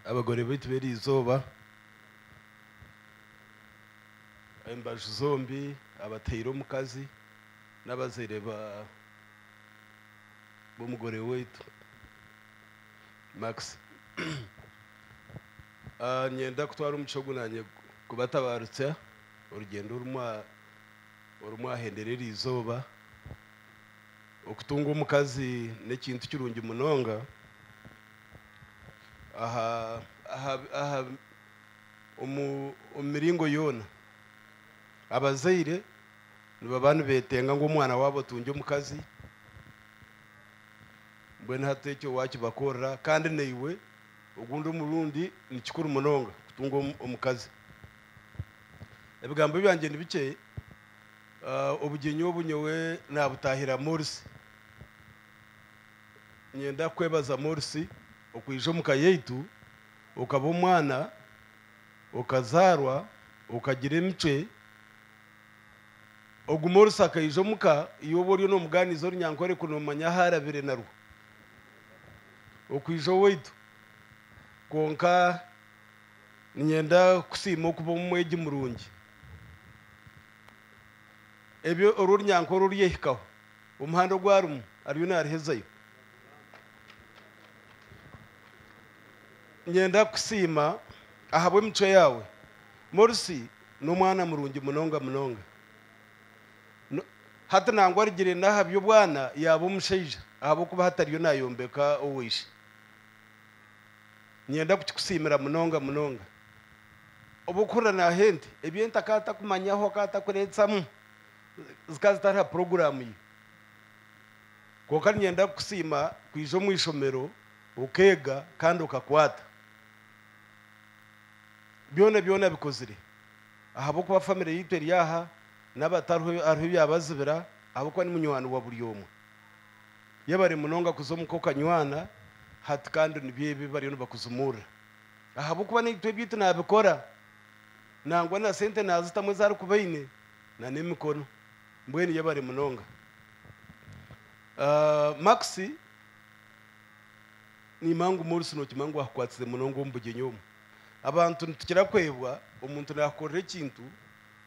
abagore baitu b'eri izooba, embaju zombi, abataire omukazi n'abazaire b'omugore waitu Maxi. Niinyenda kutwara omugisha ogu naanye kubatabaarukya orugyendo oru mwahendera eri izooba. Okutunga omukazi n'ekintu kirungi munonga omu miringo yoona. Abazaire nibaba nibetenga ngu omwana waabo atungye omukazi, mbwenu hati ekyo wakibakorera kandi naiwe ogundi omurundi ni kikuru munonga kutunga omukazi. Ebigambo byangye ni bikye. Obugyenyi obu nyowe naabutaahira Morsi. Niinyenda kukwebaza Morsi okwija omu ka yaitu, okaba omwana, okazaarwa, okagira emicwe. Ogu Morsi akaija omu ka, iwe oba oriyo noomugaaniiza orunyankore ku noomanya ahu arabire narwo. Okwija owaitu. Kwonka niinyenda kukusiima okuba omwegi murungi. ebyo oru orunyankore oruryehikaho, omuhanda ogu arimu ariyo narihezayo. Ninyenda kukusiima ahabw'emicwe yaawe. Morsi n'omwana murungi munonga munonga. No- Hati nangwa arugire n'aha by'obwana yaaba omushaija ahabw'okuba hati ariyo nayombeka owa ishe. Ninyenda kukikusiimira munonga munonga. Obu okuhurira naaha ente, ebi ente akaba atakumanyaho, akaba atakureetsamu, zikaba zitari ha puroguraamu ye. Kwonka ninyenda kukusiima kwija omu ishomero okeega kandi okakwata. Byona byona abikozire ahabw'okuba famire yaitu eri aha, n'abatariho hariho ebyabazibira ahabw'okuba ni munywani wa buri omwe. Yebare munonga kuza omu k'okanywana hati kandi nibyo ebi bariyo nibakuzumurira ahabw'okuba naitwe ebyaitu nabikora nangwa na sente nazitamu ezi arikuba aine na n'emikono. Mbwenu yebare munonga Max. Niimanya ngu Morris nokimanya ngu akukwatsize munonga omu bugyenyi omu. Abantu nitukira kwebwa omuntu nakukorera ekintu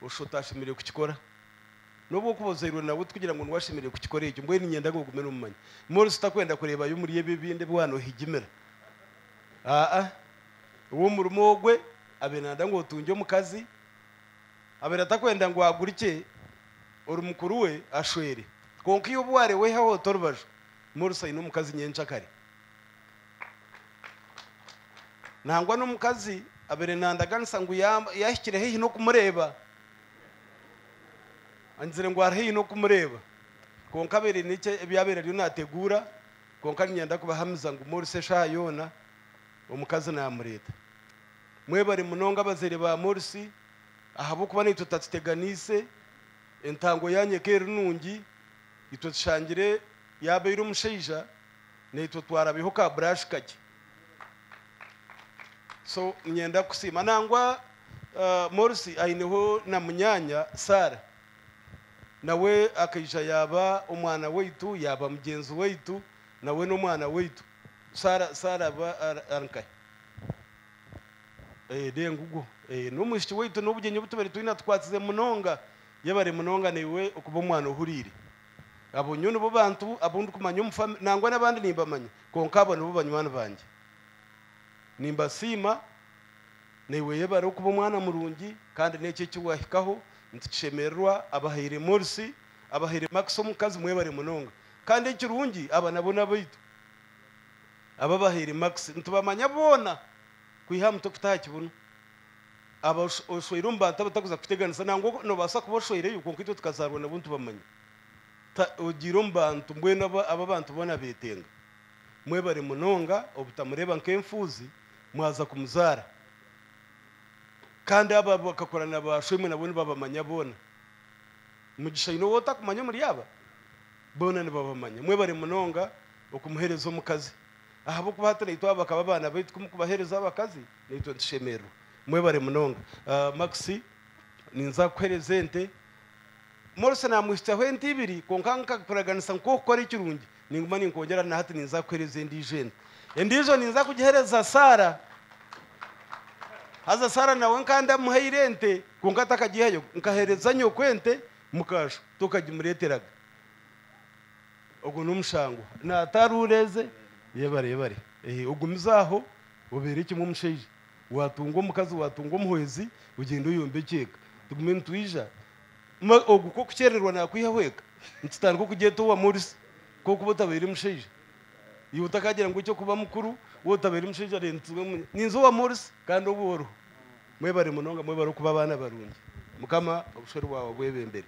oshisha otashemereire kukikora. N'obu okuba ozairwe nawe tikugira ngu niwe ashemereire kukikora ekyo. Mbwenu niinyenda ngu ogume n'omumanyi. Morris takwenda kureebayo omuri ebi ebindi ebi waanohigimira. Aa. Ow'omurimo ogwe abaire naayenda ngu otungye omukazi. Abaire atakwenda ngu agurikye ori mukuru we ashwere. Kwonka iwe obu waarewehaho ota orubaju, Morris aine omukazi nyencakare. Nangwa n'omukazi abaire naandaganisa ngu yaaba yahikire haihi n'okumureeba. Angizire ngu ari haihi n'okumureeba kwonka abaire aine ebyabaire ariyo nateguura kwonka ninyenda kubahamiza ngu Morris eshaaha yoona omukazi namureeta. Mwebare munonga abazaire ba Morris ahabw'okuba naitwe tutakiteganiise, entango yanyu eka eri nungi, itwe tushangire yaabaire omushaija naitwe twarabyeho ka brush kakye so ninyenda kukusiima nangwa ah, Morsi aineho na munyaanya Sarah nawe akaija yaaba omwana waitu yaaba mugyenzi waitu nawe n'omwana waitu Sarah Sarah aba ari ari nkahe Eh, de ngugwo Eh, n'omwishiki waitu n'obugyenyi obu tubaire twine atukwatsize munonga yebare munonga naiwe okuba omwana ohuriire Abo nyowe nibo bantu abu ndikumanya omu famire, nangwa n'abandi nimbamanya, kwonka abo nibo banywani bangye. Nimbasiima. Naiwe yebare okuba omwana murungi, kandi n'eki eki wahikaho nitukishemererwa. Abahaire Morsi, abahaire Max omukazi, mwebare munonga. Kandi ekirungi aba nabo n'abaitu, abu abahaire Max. Nitubamanya boona kwiha aha mutwe kuta aha kibunu. aba oshweire omu bantu abatakuza kuteganisa nangwa nobaasa kuba oshweireyo kwonka itwe tukazaarwa nabo nitubamanya. Ta ogiire omu bantu mbwenu aba abu abantu boona betenga. Mwebare munonga obutamureeba nk'enfuuzi mwaza kumuzaara. Kandi abo abu akakora na ba shwemwe nabo nibabamanya boona. Mugisha aine ou otakumanya omuri aba? Boona nibabamanya. Mwebare munonga okumuhereza omukazi. Ahabw'okuba hati naitwe aba bakaba abaana baitu, ku mukubahereza abakazi, Naitwe tushemererwa. Mwebare munonga. Max, ninza kukuhereza ente. Morrison amwihikyaho ente ibiri, kwonka nkakuraganisa ngu ku orikukora ekirungi, ninguma ninkwongyera na hati ninza kukuhereza endiijo ente. Endiijo ninza kugihereza Sarah. Haza Sarah nawe nkaba ndamuhaire ente, kwonka takagihayo. Nkahereza nyoko ente, mukaashwa, tokagimureeteraga. Ogwo n'omushango. Naataara oreeze. Yebare, yebare. Ehe, ogumize aho, obeere kimwe omushaija. Waatunga omukazi, waatunga omuhwezi, ogyende oyombe ekyeeka. Tugume nitwija. Ma ogwo kw'okukyererwa naakwihaho eka, nitutandika okugyeta owa Morisi, kw'okuba otabaire mushaija. Iwe otakaagira ngu eky'okuba mukuru, we otabaire mushaija reero nitugira ngu ninza owa Morisi kandi obwe oriho. Mwebare munonga, mwebare okuba abaana barungi. Mukama obushwere bwawe abwebembere.